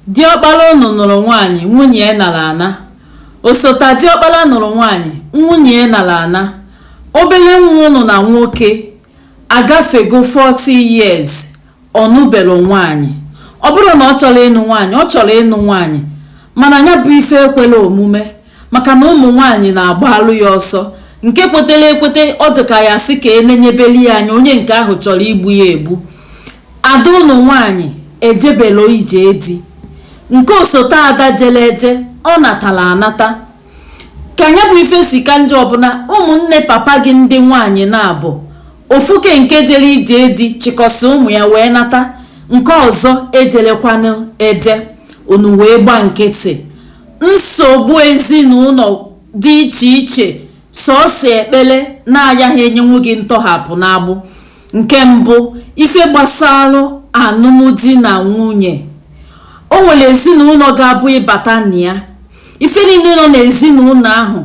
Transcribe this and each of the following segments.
Diọkpara ụnụ nụrụ nwaanyị, nwunye ya nara ana. Osota diọkpara nụrụ nwaanyị, nwunye ya nara ana. Obere nwa ụnụ na nwoke agafego 40 years ọ nụbero nwaanyị. Ọ bụrụ na ọ chọrọ ịnụ nwaanyị, ọ chọrọ ịnụ nwaanyị mana ya bụ ife ekwero omume maka na ụmụ nwaanyị na-agbalụ ya ọsọ nke kwetara ekweta ọ dịka ya sị ka enenyebeli ya anya onye nke ahụ chọrọ igbu ya egbu ada ụnụ nwaanyị ejebero ije di nke osote ada jele eje ọ natara anata ka ya bụ ife si ka njọ ọbụna ụmụnne papa gị ndị nwaanyị na-abụ ofuke nke jere ije di chịkọsị ụmụ ya wee nata nke ọzọ ejerokwanụ eje unu wee gba nkịtị nsogbu ezinụlọ dị iche iche sọsọ ekpere na-ayaghị enyenwu gị ntọhapụ n'agbụ nke mbụ ife gbasara alụmdi na nwunye o nwere ezinụlọ ga-abụ ịbata na ya ife niile nọ n'ezinụlọ ahụ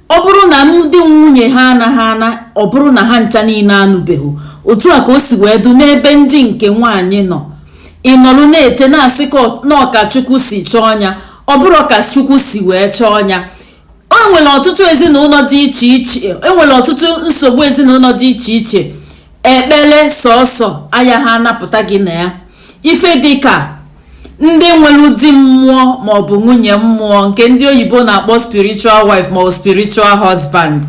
ọ bụrụ na ndị nwunye ha anaghị ana ọ bụrụ na ha ncha niile anụbeghị otu a ka o si wee dụ n'ebe ndị nke nwaanyị nọ ị nọrụ na-ete na-asị na ọ ka chukwu si chọọ ya ọ bụrọ ka chukwu si wee chọọ ya enwere ọtụtụ ezinụlọ dị iche iche enwere ọtụtụ nsogbu ezinụlọ dị iche iche ekpere sọsọ ayaghị anapụta gị na ya ife dịka ndị nwere di mmụọ maọbụ nwunye mmụọ nke ndị oyibo na-akpọ spiritual wife maọbụ spiritual husband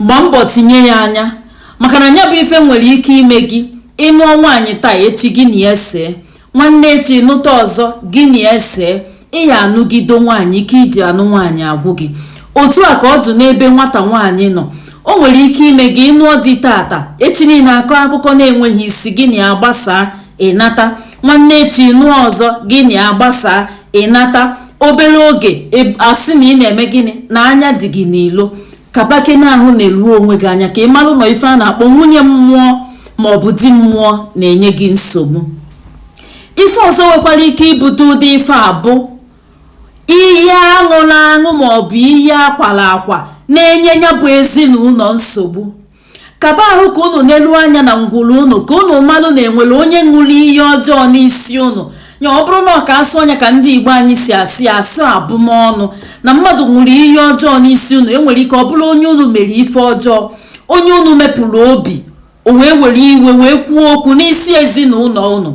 gbaa mbọ tinye ya anya maka na ya bụ ife nwere ike ime gị ịnụọ nwaanyị taa echi gị na ya see nwanne echi nụta ọzọ gị na ya see ịya anụgido nwaanyị ike iji anụ nwaanyị agwụ gị otu a ka ọ dụ n'ebe nwata nwaanyị nọ o nwere ike ime gị ịnụọ di tata echi niile akọ akụkọ na-enweghị isi gị na ya gbasaa ịnata nwanne echi nụọ ọzọ gị na ya gbasaa ịnata obere oge asị na ị na-eme gịnị na anya dị gị n'ilo kabake na ahụ neruo onwe gị anya ka ị marụ na ife a na-akpọ nwunye mmụọ ma ọ bụ di mmụọ na-enye gị nsogbu ife ọzọ nwekwara ike ibute ụdị ife a bụ iyi aṅụrụ aṅụ ma ọ bụ iyi akwara akwa na-enye ya bụ ezinụlọ nsogbu kaba ahụ ka unu neruo anya na ngwuru unu ka unu marụ na enwere onye ṅụrụ iyi ọjọọ n'isi unu nya ọ bụrụ na ọ ka asụọ ya ka ndị igbo anyị si asụ ya asụ abụmọnụ na mmadụ ṅụrụ iyi ọjọọ n'isi unu enwere ike ọ bụrụ onye unu mere ife ọjọọ onye unu mepụrụ obi o wee were iwe wee kwuo okwu n'isi ezinụlọ unu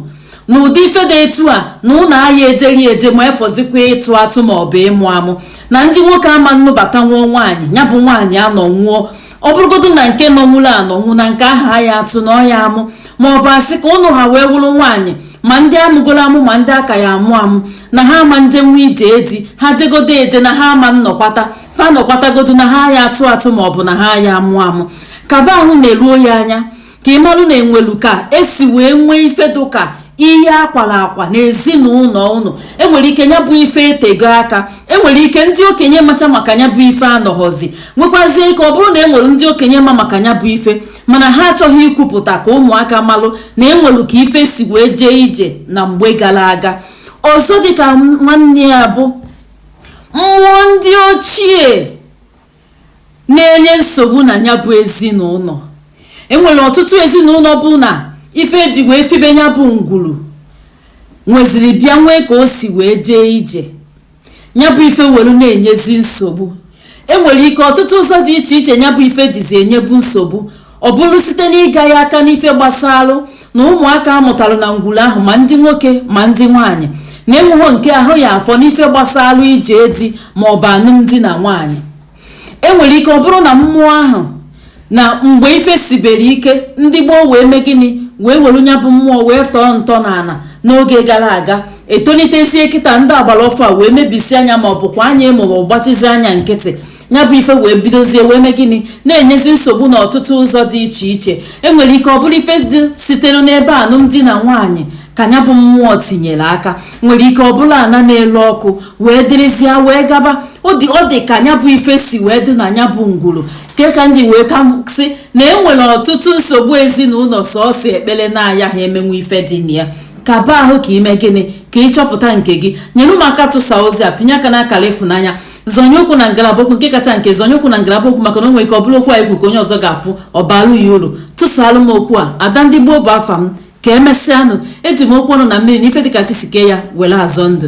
na ụdị ife dị etu a na ụlọ ahịa ejeri eje ma efọzikwa ịtụ atụ ma ọ bụ ịmụ amụ na ndị nwoke ama nụbatanwu nwaanyị ya bụ nwaanyị anọnwu ọ bụrụgodu na nke nọnwụrụ anọnwụ na nke ahụ aya atụ na ọ ya amụ ma ọ bụ asị ka ụnụ ha wee wụrụ nwaanyị ma ndị amụgoro amụ ma ndị a ka ya amụ amụ na ha ama njenwe ije di ha jegodo eje na ha ama nnọkwata fa nọkwatagodu na ha ya atụ atụ ma ọ bụ na ha ya amụ amụ kaba ahụ neruo ya anya ka ị malụ na enwelu ka esi wee nwee ife dụka ihe akwara akwa na ezinụlọ ụnụ enwere ike ya bụ ife etego aka enwere ike ndị okenye macha maka ya bụ ife anọghọzi nwekwazie ike ọ bụrụ na enwere ndị okenye ma maka ya bụ ife mana ha achọghị ikwupụta ka ụmụaka malụ na enwelu ka ife si wee jee ije na mgbe gara aga ọzọ dịka nwanne ya bụ mmụọ ndị ochie na-enye nsogbu na ya bụ ezinụlọ enwere ọtụtụ ezinụlọ bụ na ife eji wee fibe ya bụ ngwuru nweziri bịa nwee ka o si wee jee ije ya bụ ife were na-enyezi nsogbu enwere ike ọtụtụ ụzọ dị iche iche ya bụ ife jizi enyebu nsogbu ọ bụrụ site n'ịga ya aka n'ife gbasalụ na ụmụaka amụtara na ngwuru ahụ ma ndị nwoke ma ndị nwaanyị na enweghị nke ahụ ya afọ n'ife gbasalụ ije di ma ọ bụ alụmdi na nwaanyị enwere ike ọ bụrụ na mmụọ ahụ na mgbe ife sibere ike ndị gboo wee mee gịnị wee were nya bụ mmụọ wee tọọ ntọ n'ala n'oge gara aga etonitezie kịta ndị agbara ọfụụ a wee mebisie anya ma ọ bụkwa anya ịmụrụ gbachizi anya nkịtị ya bụ ife wee bidozie wee mee gịnị na-enyezi nsogbu n'ọtụtụ ụzọ dị iche iche enwere ike ọ bụrụ ife dị sitere n'ebe alụmdi na nwaanyị ka ya bụ mmụọ tinyere aka nwere ike ọ bụrụ ana na-elu ọkụ wee dịrịsịa wee gaba ọ dị ka ya bụ ife si wee dị na ya bụ ngwuru nke a ka m ji wee ka sị na enwere ọtụtụ nsogbu ezinụlọ sọsọ ekpere na-aya ha emenwe ife dị na ya kaba ahụ ka i mee gịnị ka ị chọpụta nke gị nyere m aka tụsa ozi a pịnye aka n'akara ịfụnanya zọnye okwu na ngalaba okwu nke kacha nke zọnye okwu na ngalaba okwu maka na o nwere ike ọ bụrụ okwu anyị kwuru ka onye ọzọ ga-afụ ọ baalụ ya uru tụsaalụ m okwu a ada ndị gboo bụ afa m ka emesịanụ eji m okwu ọnụ na mmiri na ife dịka chi si kee ya were azọ ndụ